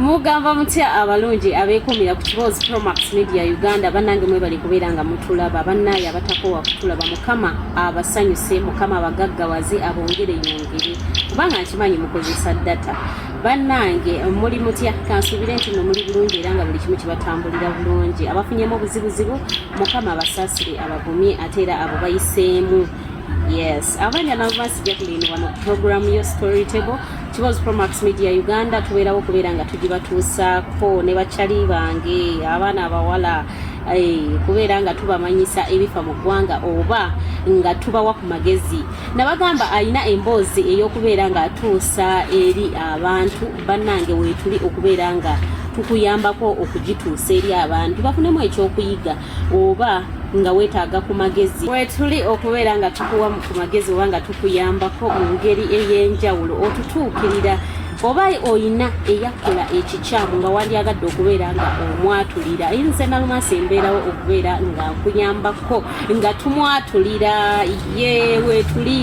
mugamba mutya abalungi abekumira ku kiboozi promax media uganda banange mwebali kubeera nga mutulaba bannaaye abatakowa kutulaba mukama abasanyuse mukama abagaggawaze abongere yongere kubanga nkimanyi mukozesa data bannange muli mutya kansuubire nti no muli bulungi era nga buli kimu kibatambulira bulungi abafunyemu obuzibuzibu mukama abasaasire abagumye ate era abo bayiseemu yes abanja nabo basijja kulinibwa mu programu yo story table Kibozi Promax Media Uganda tubeerawo kubeera nga tugibatuusaako ne bakyali bange abaana abawala eh, kubeera nga tubamanyisa ebifa mu ggwanga oba nga tubawa ku magezi nabagamba alina emboozi ey'okubeera nga atuusa eri abantu bannange weetuli okubeera nga tukuyambako okugituusa eri abantu bafunemu ekyokuyiga oba nga wetaaga ku magezi wetuli okubeera nga tukuwa ku magezi oba nga tukuyambako mu ngeri ey'enjawulo otutuukirira oba oyina eyakola ekikyamu nga wandyagadde okubeera nga omwatulira ayinza nalumansi embeerawo okubeera nga nkuyambako nga tumwatulira ye wetuli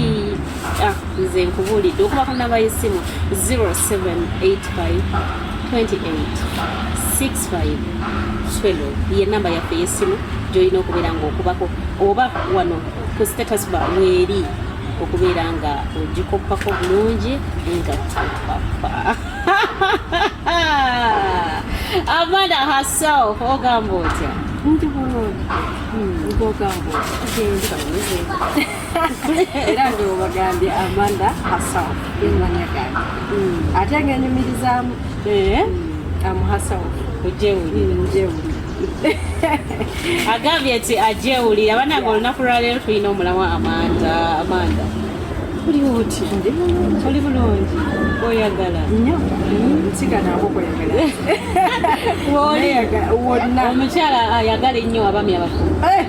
Ah, nze nkubuulidde okubako namba y'essimu 0785286512 ye namba yaffe y'essimu gyolina okubeera ng'okubako oba wano ku status ba weeri okubeera nga ogikoppako bulungi nga topapa amanda herself ogamba otya ndi bulungi hmm. ogamba otya era nga obagambye amanda hasaw emanya gange mm. ate nga enyumirizaamu eh? mm. amuhasaw ojewulire mm, agambye nti ajewulira banange olunaku lwaleero tulina omulamu amanda amanda oli oti oli bulungi oyagala nyo nsiganako kweyagala omukyala ayagala ennyo abami abakulu eh!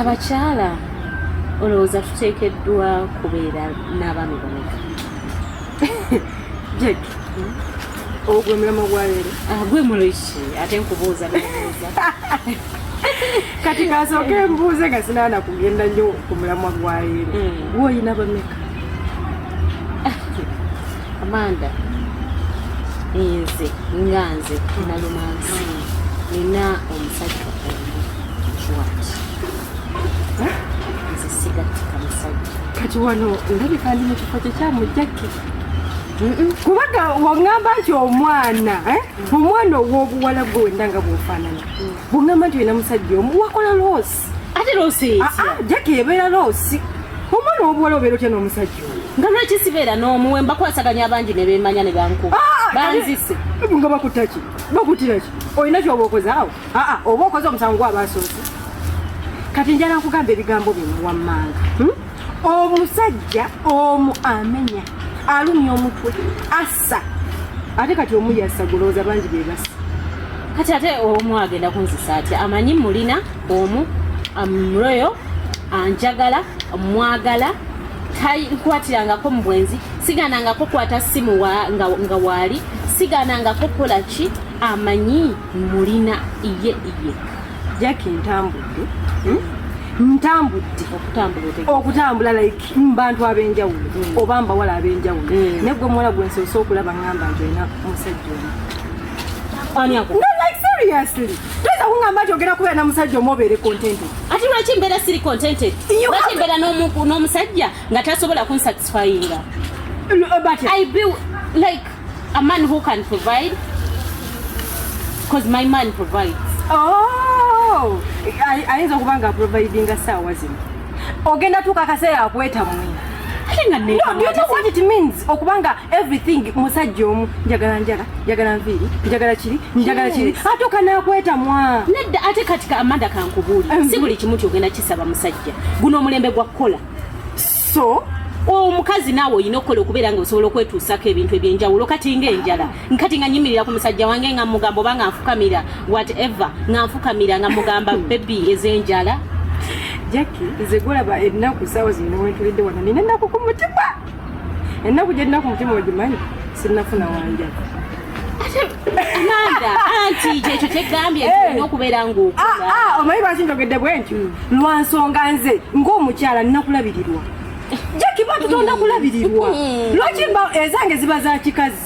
abakyala olowooza tuteekeddwa kubeera n'abaami bameka jek ogwe mulamo gwaleero ah, gwe muloiki ate nkubuuza nabuuza kati kasooke mbuuze nga sinaana kugenda nnyo ku mulamwa gwaleero hmm. gwe olina bameka amanda nze nga nze nalumansi nina omusajja omuwaki nze sigatika musajja kati wano ndabika ndi mu kifo kyekyamujjaki kubaga wangamba nti omwana eh? omwana owobuwala gwe wendanga bwofanana bungamba nti wena musajja omu wakola loosi ate loosi eyitya ah, ah, jaki ebeera loosi omwana obuwala obeera otya n'omusajja oyo nga lwaki sibeera n'omu we mbakwasaganya abangi ne beemanya ne bankuba ah, banzise ebu nga bakutaki bakutiraki olina kyoba okoze awo aa oba okoze omusango gwabasoosi kati njala nkugamba ebigambo bino wammanga hmm? omusajja omu amenya alumya omutwe sa ate kati omu yassa gulowooza bangi be bassa kati ate omu agenda kunzisa atya amanyi mulina omu amroyo anjagala mwagala tankwatirangako mu bwenzi siganangako kwata simu nga waali siganangako kola ki amanyi mulina iye iye jaki ntambudde hmm? ntambudde okutambula okutambula like mubantu abenjawulo mm. oba mbawala abenjawulo mm. naye gwe muwala gwe nsoose okulaba ngamba nti olina musajja omu toyinza kungamba nti ogenda kubeera na musajja omu obeere contented ati lwaki mbeera siri contented lwaki mbeera n'omusajja nga tasobola kunsatisfyinga i be like a man who can provide because my man provides oh, ayinza okuba nga providinga saawa zino ogenda tuuka akaseera akwetamwe okubanga everything musajja omu njagala njala njagala nviiri njagala kiri njagala kiri atuuka nakwetamwa nedda ate kati amanda kankubuuli mm-hmm. si buli kimu kyogenda kisaba musajja guno omulembe gwa kukola so omukazi naawe olina okukola okubeera nga osobola okwetuusako ebintu ebyenjawulo kati ngaenjala nkati nga nyimirira ku musajja wange nga mugamba oba nga nfukamira whatever nga nfukamira nga mugamba bebi ezenjala jacki nze gulaba ennaku saawa zino wentulidde wana nina ennaku ku mutima ennaku gyerina ku mutima ogimanyi sinafuna wanja amanda anti kyekyo kyegambye nti olina okubeera ngaokuga ah, ah, omanyi lwaki njogedde bwentyo lwa nsonga nze ng'omukyala nnakulabirirwa jacki batutonda kulabirirwa lwaki ezange ziba za kikazi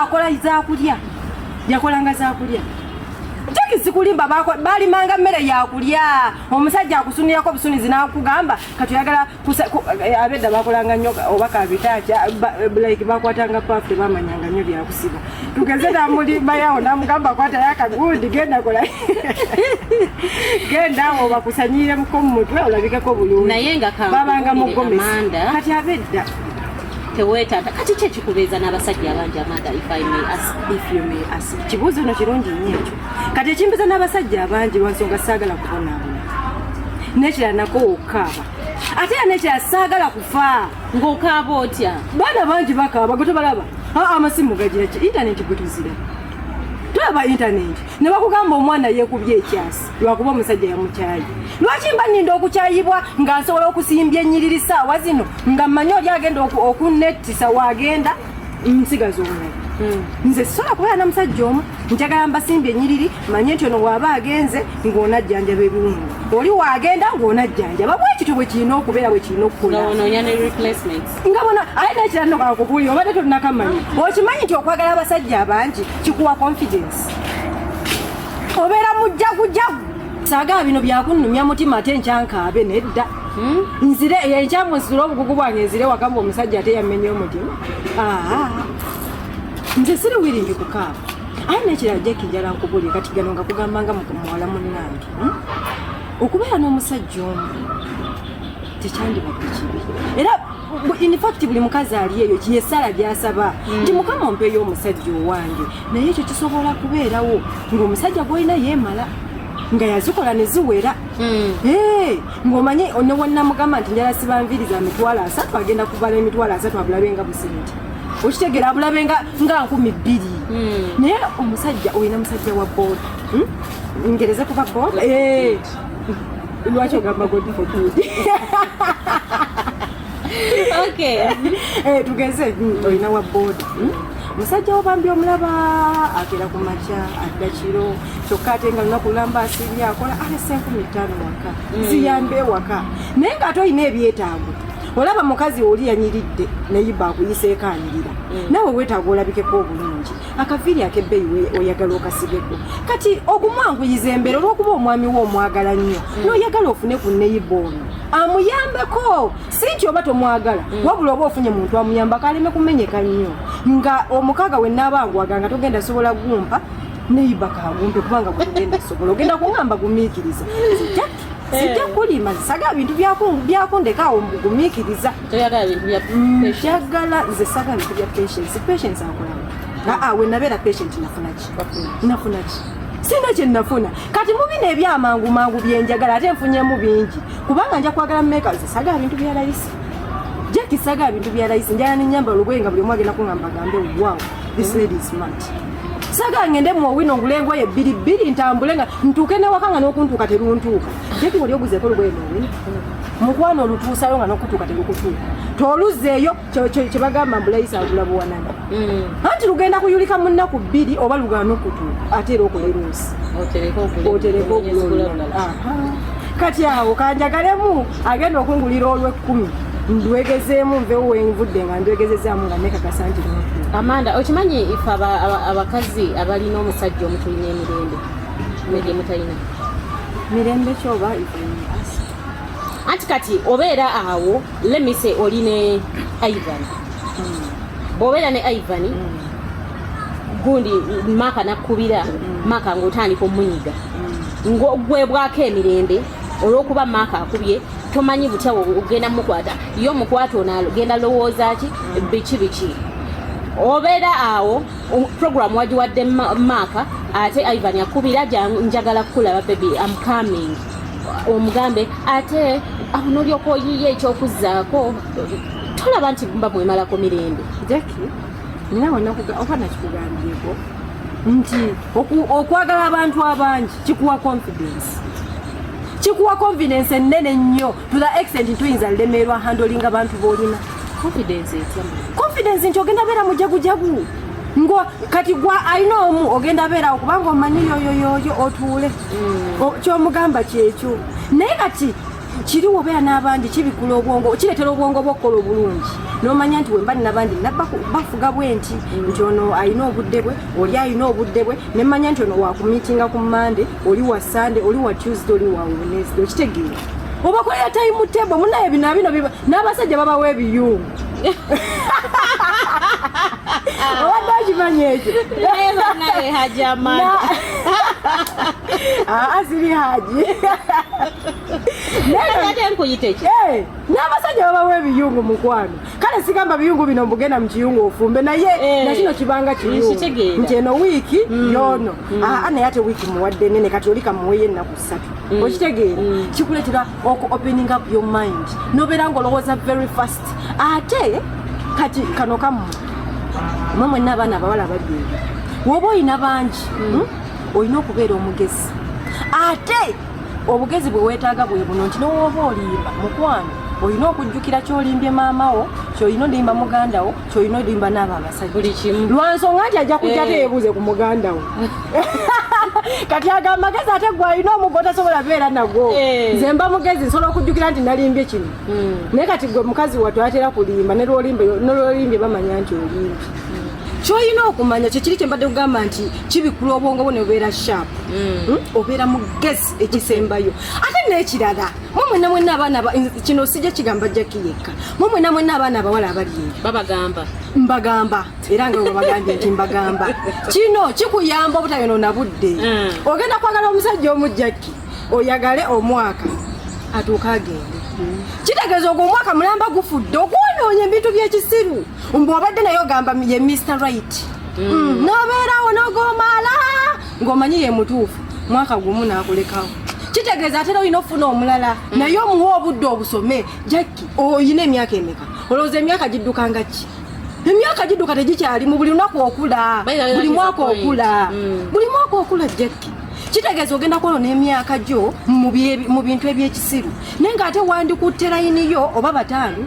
akola zakulya yakolanga zakulya jaki sikulimba balimanga mmere yakulya omusajja akusunirako obusunizi nakugamba kati oyagala eh, abedda bakolanga nnyo oba kabitaki like bakwatanga pafu tebamanyanga nnyo byakusiba tugeze namulimbayawo namugamba kwatayo akagundi genda kola genda awo bakusanyiremko mu mutwe olabikeko bulungi babanga mugomesi kati abedda tewetata kati kye kikubeeza n'abasajja abangi amanda if i may ask if you may ask kibuuzo no kirungi nnyo ekyo kati ekimbiza n'abasajja abangi lwansonga saagala kubonaabona nekirala nako wokukaaba ate era nekirala saagala kufa ng'okaaba otya baana bangi bakaaba gwe tobalaba amasimu gagira ki intaneti gwe tuzira tulaba intaneti ne bakugamba omwana yeekubye ekyasi lwakuba omusajja yamukyayi lwaki mba ninda okukyayibwa nga nsobola okusimbya enyiriri saawa zino nga mmanyi oli agenda okunettisa wagenda nsigaza omu hmm. nze sisobola kubeera na musajja omu njagala mbasimbye enyiriri manye nti ono waaba agenze ng'onajjanjaba ebiwundu oli waagenda ng'onajjanjaba bwekityo bwe kirina okubeera bwe kirina okukulanga bona aye nekira nokakubuulira obadde tolinakamanya okimanyi nti okwagala abasajja abangi kikuwa confidence obeera mujjagujagu saagala bino byakunnumya mutima ate nkyankaabe nedda hmm? nzire enkyamu nsitule obugugu bwange nzire wakamba omusajja ate yammenye omutima nze siri wiringi kukaaba aye nekirala jekijala nkubuli kati gano nga kugamba nga muwala munnange hmm? okubeera n'omusajja omu tekyandibadde kibi era infact buli mukazi ali eyo yesala gyasaba mm. nti mukama ompeeyo omusajja owange naye ekyo kisobola kubeerawo ngaomusajja gwolina yemala nga yazikola neziwera hmm. ngaomanyi newonamugamba nti njala sibanviriza emitwalo asatu agenda kubala emitwalo asatu abulabe nga busente okitegera abulabe nga nkumi bbiri hmm. naye omusajja olina musajja wa boda hmm? ngereze kuba boda lwaki ogamba godfotudi okay eh, tugeze hmm, olina wa boda hmm? musajja wobambi omulaba agera ku makya adda kiro kyokka ate nga lunaku lulamba asibye akola alese ah, enkumi ttaano waka hmm. ziyambe ewaka naye nga ate olina ebyetaago olaba mukazi oli yanyiridde naye bakuyiseeko anyirira nawe wetaaga olabikeko obulungi akaviiri akebbeyi oyagala okasigeko kati okumwanguyiza embeera olwokuba omwami we omwagala nnyo mm. noyagala ofune ku neyiba ono amuyambeko si nti oba tomwagala mm. wabula oba ofunye muntu amuyambako aleme kumenyeka nnyo nga omukaaga we naabanguwaga nga togenda sobola gumpa neyiba kagumpe kubanga gugenda sobola ogenda kungamba gumiikiriza sijja eh. kulima saga bintu byakundekaawo mbugumikiriza mm, njagala nze saga bintu bya patience patience akulaba aa wenabeera patient nafunaki nafunaki sina kyenafuna kati mubino ebyamangu mangu byenjagala ate nfunyemu bingi kubanga nja kwagala mumeka nze saga bintu bya layisi jakisaga bintu bya layisi njala nenyamba olubwenga buli omu agenda kungamba gambe wow this lady is mad saga ngende mu owino ngule engoye bbiri bbiri ntambule nga ntuuke newaka nga n'okuntuuka teruntuuka jeki wali oguzeeko olugoye mu owino mukwano olutuusayo nga n'okutuuka terukutuuka toluzeeyo kye bagamba mbulayisa agula buwanana mm. anti lugenda kuyulika mu nnaku bbiri oba lugaana okutuuka ate era okola eruusi otereka ogula kati awo kanjagalemu agenda okungulira olw'ekkumi ndwegezeemu nvewo wenvudde nga ndwegezezaamu nga nekakasa nti amanda okimanyi ife abakazi abalina omusajja omutulina emirembe negye mutalina mirembe kyoba anti kati obeera awo lemise oli ne ivan hmm. bwobeera ne ivan hmm. gundi maaka nakkubira hmm. maaka ngaotandika omunyiga ngogwebwako emirembe olwokuba maaka akubye tomanyi butya ogenda mukwata yo mukwata onagenda lowooza ki biki biki obeera awo program wagiwadde maaka ate ivan akubira njagala kukulaba bebi am coming omugambe ate nolyoka oyiye ekyokuzaako tolaba nti mba mwemalako mirembe jaki nawe oba nakikugambyeko nti okwagala abantu abangi kikuwa confidence kikuwa confidence ennene nnyo to the extent nti oyinza lemerwa handling abantu boolina confidence etya confidence nti ogenda beera mujagujagu ngo kati gwa alina omu ogenda beerawo kubanga omanyi yoyoyoyo otuule mm. kyomugamba kyekyo naye kati kiri wobeera n'abandi kibikula obwongo kireetera obwongo bwa okukola obulungi n'omanya nti wemba nabandi bafuga bwe nti nti ono alina obudde bwe oli alina obudde bwe nemmanya nti ono wakumitinga ku mande oli wa sande oli wa tuesday oli wa wenesda okitegeera obakolera tayimu tebo munaye bino abino n'abasajja babawa ebiyungu obadde okimanyi ekyo aziri haji Eh, n'abasajja babawa ebiyungu mukwano kale sigamba biyungu bino mbugenda mukiyungu ofumbe naye eh. nakino kibanga kiyungu nti eno wiiki mm. yono mm. aa ah, ah, naye ate wiiki muwadde nene kati oli kamuweyo ennaku ssatu mm. okitegeera kikuleetera oku opening up your mind nobeera nga olowooza very fast ate kati kano kamu mwe mwenna abaana abawala babiri woba olina bangi hmm? olina okubeera omugezi ate obugezi bwe weetaaga bwe buno nti newooba olimba mukwano olina okujjukira kyolimbye maama wo kyolina olimba muganda wo kyolina olimba naabo abasajjalwansonga nti ajja kujja eh. teyebuuze ku muganda wo kati ago amagezi ate gwe alina omugo tasobola beera nagwo eh. nze mba mugezi nsobola okujjukira nti nalimbye kino hmm. naye kati gwe mukazi watwatera kulimba nolwolimbye bamanya nti olimbye kyoyina okumanya kyekiri kyembadde kugamba nti kibikula obwongo bwo nebubeera sharp mm. hmm? obeera mugezi ekisembayo ate nekirala mumwena mwena abaana kino sijja kigamba jaki yekka mumwena mwena abaana abawala abali eyo babagamba mbagamba era nga webagambye nti mbagamba kino kikuyamba obutayonoona budde mm. ogenda kwagala omusajja omu jaki oyagale omwaka atuuka agende mm. kitegeeza ogwo omwaka mulamba gufudde okwonoonye ebintu byekisiru mbu obadde naye ogamba ye mr right mm. mm. nobeerawo nogomaala ng'omanyi ye mutuufu mwaka gumu nakulekawo kitegeeza atera olina okufuna omulala mm. naye omuwa obudde obusome jacki olina emyaka emeka olowooza emyaka giddukanga ki emyaka gidduka tegikyalimu buli lunaku okula buli mwaka okula mm. buli mwaka okula jacki kitegeeza ogenda kwolo n'emyaka gyo mu bintu ebyekisiru naye ng'ate wandikutte layiniyo oba bataano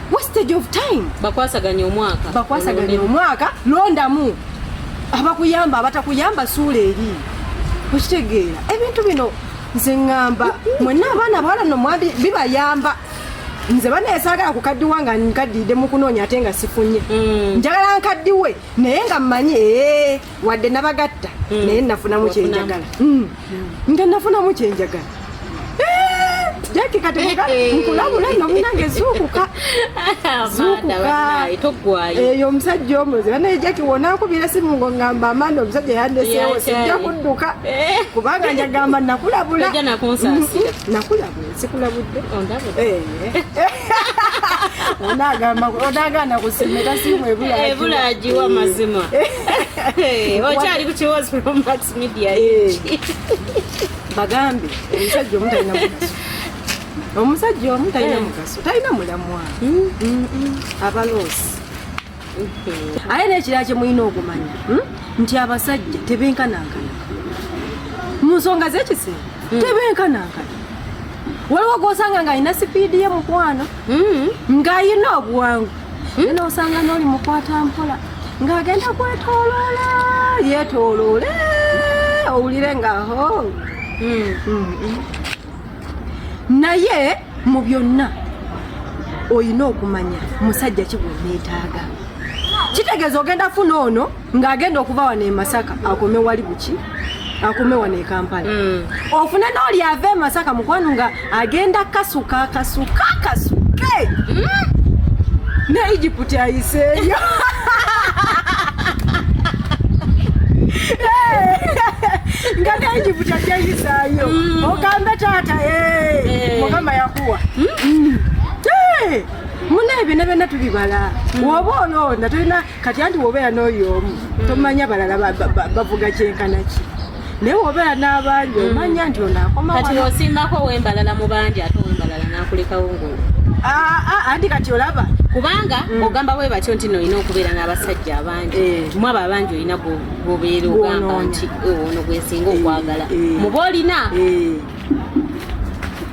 wastage of time bakwasaganya omwaka bakwasaganya omwaka londamu abakuyamba abatakuyamba suula eri okitegeera ebintu bino nze ŋŋamba mwenna abaana bawala no mwandi bibayamba nze banaye saagala kukaddiwa nga nkaddiidde mu kunoonya ate nga sifunye mm. njagala nkaddiwe naye nga mmanyi ee eh, wadde nabagatta mm. naye nafunamu kyenjagala mm. nga nafunamu kyenjagala eh, jaki kati eh, eh. nkulabula nomunange zuukuka eyo omusajja omuzi banaye jaki wonakubira simu ngo ngamba amanda omusajja yandesewo sijja kudduka kubanga njagamba nakulabula nakulabula sikulabudde onagana kusimira simu ebulagiwa mazima okyali kukiwozi romax media bagambe omusajja omu talina mugaso omusajja omu talina mugaso talina mulamwa abaloosi ate nekirala kyemulina okumanya hmm? nti abasajja tebenkanankana mu nsonga zekisera hmm. tebenkanankana waliwo gwosanga nga alina sipiidi ye mukwano hmm. ng'alina obuwangu naye nosanga n'oli mukwata mpola ng'agenda kwetoloola yetoloole owulire nga ho naye mu byonna olina okumanya musajja kigweneetaaga kitegeeza ogenda funa ono ng'agenda okuva wano e masaka akome wali buki akume wano ekampala mm. ofune noli ava emasaka mukwano nga agenda kasuka kasuka kasuke mm. ne egypt ayiseeyo nga ne egypt ajayiseeyo sayo mm. ogambe taata eh. Eh. mukama yakuwa mm. eh. muna ebina byona tubibala mm. woba olonda tolina kati anti wobeera n'oyo omu tomanya balala bavuga kyenkanaki naye wobeera n'abangi omanya nti onaakomakati osimbako wembalala mu bangi ate wembalala nakulekawo ngulu ah, ah, anti kati olaba kubanga ogamba bwe batyo nti noolina okubeera n'abasajja abangi mwabo abangi olina gwobeera ogamba nti eh, ono gwesinga okwagala eh, eh. muba olina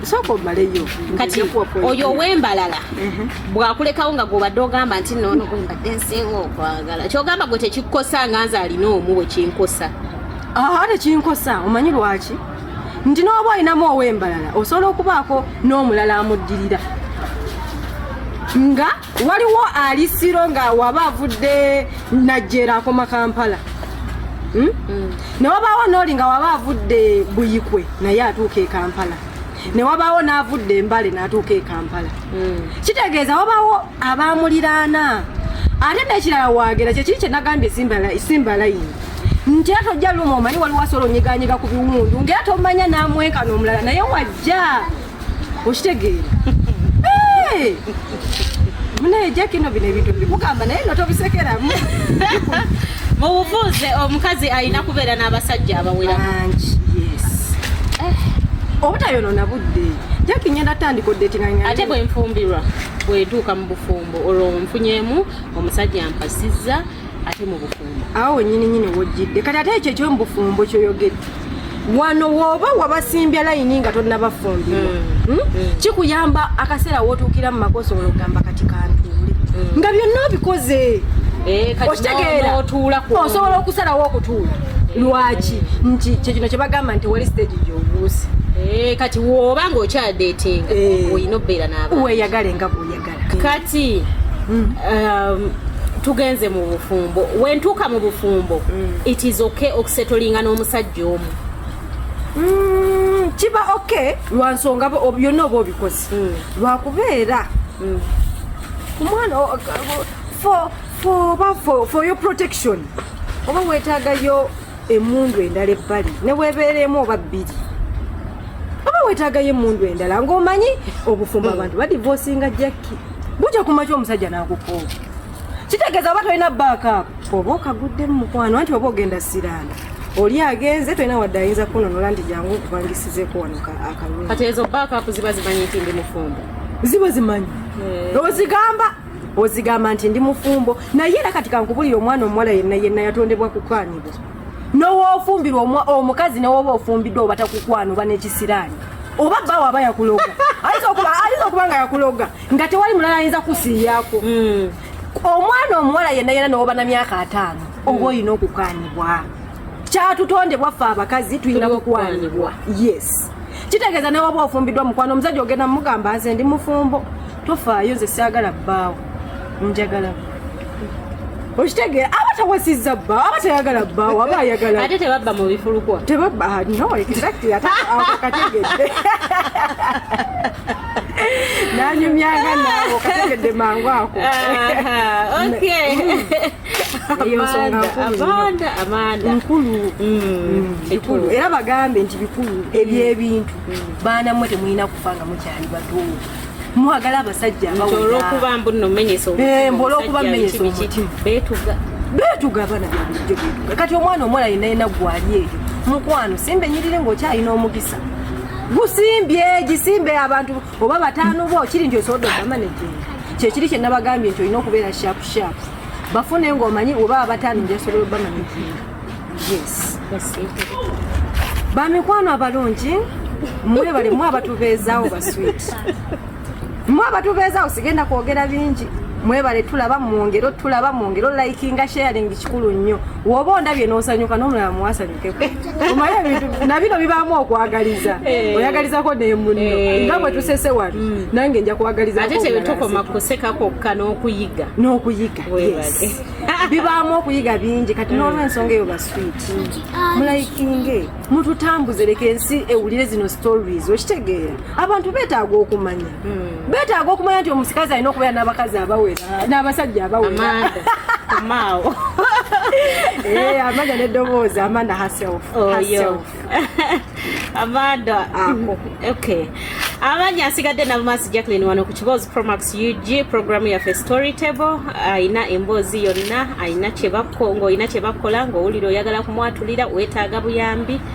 sooka omaleyo kati oyo owembalala mhm. bwakulekawo nga gwobadde ogamba nti noono gwembadde nsinga okwagala kyogamba gwe tekikosa nga nze alina omu wekinkosa aa tekinkosa omanyi lwaki nti nooba olinamu owembalala osobola okubaako n'omulala amuddirira nga waliwo ali siro nga waba avudde najjeera akoma kampala hmm? mm. ne wabaawo nooli nga waba avudde buyikwe naye atuuka e kampala ne wabaawo n'avudde embale n'atuuka e kampala mm. kitegeeza wabaawo abamuliraana ate nekirala wagera kyekiri kyenagambye simba layini nti era tojja luma omanyi waliwo asola onyiganyiga ku biwundu ngaera tomanya namwenkana omulala naye wajja okitegeera munaye jakino bino ebintu bikugamba naye no tobisekeramu mu bufunze omukazi alina kubeera n'abasajja abawera bangi yes eh. obutayonona budde jaki ngenda tandika oddetinganya ate bwenfumbirwa bwetuuka mu bufumbo olwo nfunyemu omusajja mpasizza ate mu bufumbo awo wenyini nyini wojjidde kati ate ekyo ekyo mu bufumbo kyoyogedde wano woba wabasimbya layini nga tonnabafumbirwa mm. hmm? mm. kikuyamba akaseera wotuukira mu maka osobola okugamba kati kantuule mm. nga byonna obikoze eh, okitegeera osobola okusalawo okutuula eh. lwaki nti kyekino kyebagamba nti wali stage gyobuuse eh, kati woba nga okyadetinga olina obeera naba weyagale nga bwoyagala kati mm. um, tugenze mu bufumbo wentuuka mu bufumbo mm. it is okay okusetolinga n'omusajja omu mm, kiba okay lwansonga byonna oba obikozi mm. lwakubeera mm. omwana oba for your protection oba wetagayo emundu endala ebbali newebeera emu oba bbiri oba wetagayo emundu endala ngaomanyi obufumbo hmm. abantu badivosinga jakki buja kumaki omusajja nakukooba kitegeeza oba tolina backup oba okagudde mu mukwano anti oba ogenda siraana oli agenze tolina wadde ayinza kunonola nti jangu okubangisizeeko wano akalungi kati ezo backup ziba zimanyi nti ndi mufumbo ziba zimanyi eh. ozigamba ozigamba nti ndi mufumbo naye era kati kankubulira omwana omuwala yenna yenna yatondebwa kukwanibwa nowoofumbirwa omukazi newoba ofumbiddwa oba takukwano oba nekisiraani oba bba waba yakuloga ayinza okuba nga yakuloga nga tewali mulala ayinza kusiiyako hmm. omwana omuwala yenna yenna newoba na myaka ataano oba olina okukanibwa kyatutondebwa ffe abakazi tulina kukwanibwa yes kitegeeza nawe oba ofumbiddwa mukwano omusajja ogenda mugamba nze ndi mufumbo tofaayo nze siagala bbaawo njagala okitegeera aba tawasizza bba aba tayagala bbaawo aba ayagala ate tebabba mu bifulukwa tebabba ah, no exactly ate akategedde nanyumyanga naawo kategedde mangu ako ekulu era bagambe nti bikulu ebyebintu baana mwe temulina kufa nga mukyali batuumu mwagala abasajja olwokuba mbu nomenyesa olwokuba menyesa omutima betuga betuga abana byabulijjo betuga kati omwana omuwala yena yena gwali eyo mukwano simba enyirire ngaokyalina omukisa gusimbye gisimbe abantu oba bataano bo kiri nti osobodde ogamba negenda kyekiri kye nabagambye nti olina okubeera sharp sharp bafune ngaomanyi oba abataano njasobola obama negenda yes bamikwano abalungi mwebale mwe abatubeezaawo baswit mwe abatubeezaawo sigenda kwogera bingi mwebale tulaba mungero tulaba mungero likinga sharing kikulu nnyo woba ondabye nosanyuka nomulala muwasanyuka omaye ebintu nabino bibaamu okwagaliza eh. oyagalizako nemuno eh. nga bwe tusese wano mm. nange nja kwagalizaate tewetukoma kuseka kwokka n'okuyiga n'okuyiga bibaamu okuyiga bingi kati mm. n'olwensonga eyo baswiti mm. mulayikinge mututambuze leka ensi ewulire zino stories okitegeera abantu betaaga okumanya hmm. betaaga okumanya nti omusikazi alina okubeera n'abakazi abawera n'abasajja abawera maawo eh, amanya neddoboozi amanda herself oyo amanda ah, okay abanya asigadde nabamaasi jacklin wano ku kiboozi promax ug programu yaffe story table alina emboozi yonna alina kyebakonga olina kyebakukola ngaowulira oyagala kumwatulira wetaaga buyambi